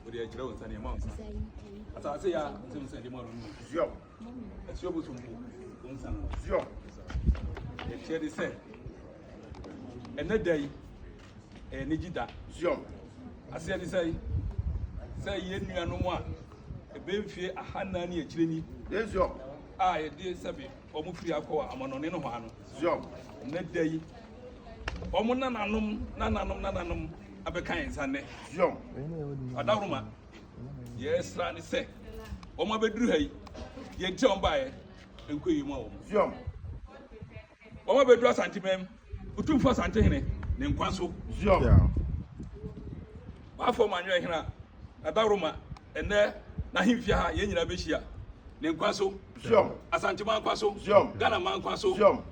wòde akyerɛ wo nsa nea ɛma wo nsa asase yɛ a nsɛm sɛ ɛde ma no ziɔm asuo bosom bo wo nsa no ziɔm ɛkyerɛ de sɛ ɛnɛ da yi ɛyɛ ne gyi da ziɔm aseɛ de sɛ sɛ yɛ nuanom a ɛbɛmfie ahanan ne akyire ni a yɛde sɛbe Wɔfiri akɔ amannɔne nohoa no. Zion. Nnɛ da yi, wɔn nananom nananom nananom abɛka yɛn nsa nnɛ. Zion. Adahoroma, deɛ ɛsra ne sɛ wɔn abɛduru ha yi, deɛ nti a wɔn baeɛ nkɔ yie mu a wɔn. Zion. Wɔn abɛduru Asantemam. Otumfo Asantehene ne nkwa so. Zion, w'afɔr ma anwerɛ hena, na daworo ma ɛnnɛ n'ahemfie ha yɛn nyinaa bɛhyia. Ne nkwa so. Zion, Asanteman nkwa so. Zion, Ghana man nkwa so. Zion,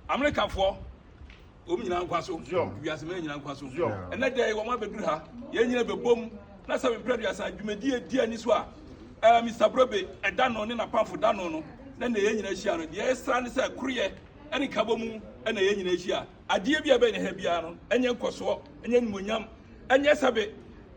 Amerikafoɔ wɔn nyinaa nkwa so. Zion, wiase man nyinaa nkwa so. Zion, ɛnɛ dɛ wɔn abɛduru ha yɛn nyinaa bɛbom na sɛ mprɛ duasa dwumadie di ani so a ɛɛ Mr Brobe ɛda no ne n'apamfo da no no na na yɛn nyinaa hyia no deɛ ɛsra ne sɛ koroyɛ. ne kabɔ mu na yɛn nyinaa hyia. Adeɛ bi a ɛbɛyɛ ha biara no, ɛnyɛ nkɔsoɔ, ɛnyɛ animuonyam, ɛnyɛ sɛbe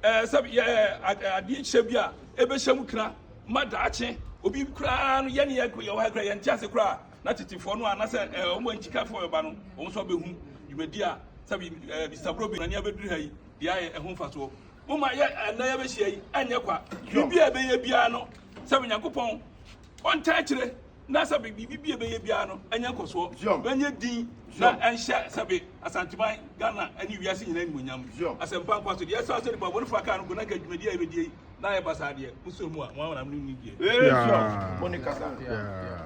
ɛɛ sɛbe yɛ adeɛ hyɛ bi a ɛbɛhyɛ mu kra ma daakye. Obi koraa no yɛn yɛ yɛwɔ ha koraa yɛn ti ase koraa na tetefoɔ no a anasɛ ɛɛ wɔn a nkyikafoɔ bɛba no wɔn nso abɛhu dwumadi a sɛbe ɛɛ Mr. Brobe nani abɛduru ha yi deɛ ayɛ ɛho mfasoɔ. Mo ma yɛ ɛnna yɛbɛhyia yi ɛnyɛ kwa. Biribi a ɛbɛyɛ biara no sɛbe Nyankopɔn ɔntaa akyire. na sɛbe biribi bi a ɛbɛyɛ biara no anya nkɔsoɔ, bɛnyɛ din na ɛnhyɛ sɛbe Asanteman, Ghana ne wiase nyinaa animuonyam. Asɛmpa nkwa so deɛ ɛsɛ sɛ nipa bɔnefoɔ akaa no go na nka dwumadie a yɛbɛdie yi na ayɛ basaa deɛ, mosuro mu a, mo amanam no nni die. Yeah. Mo ne kasa. Yeah.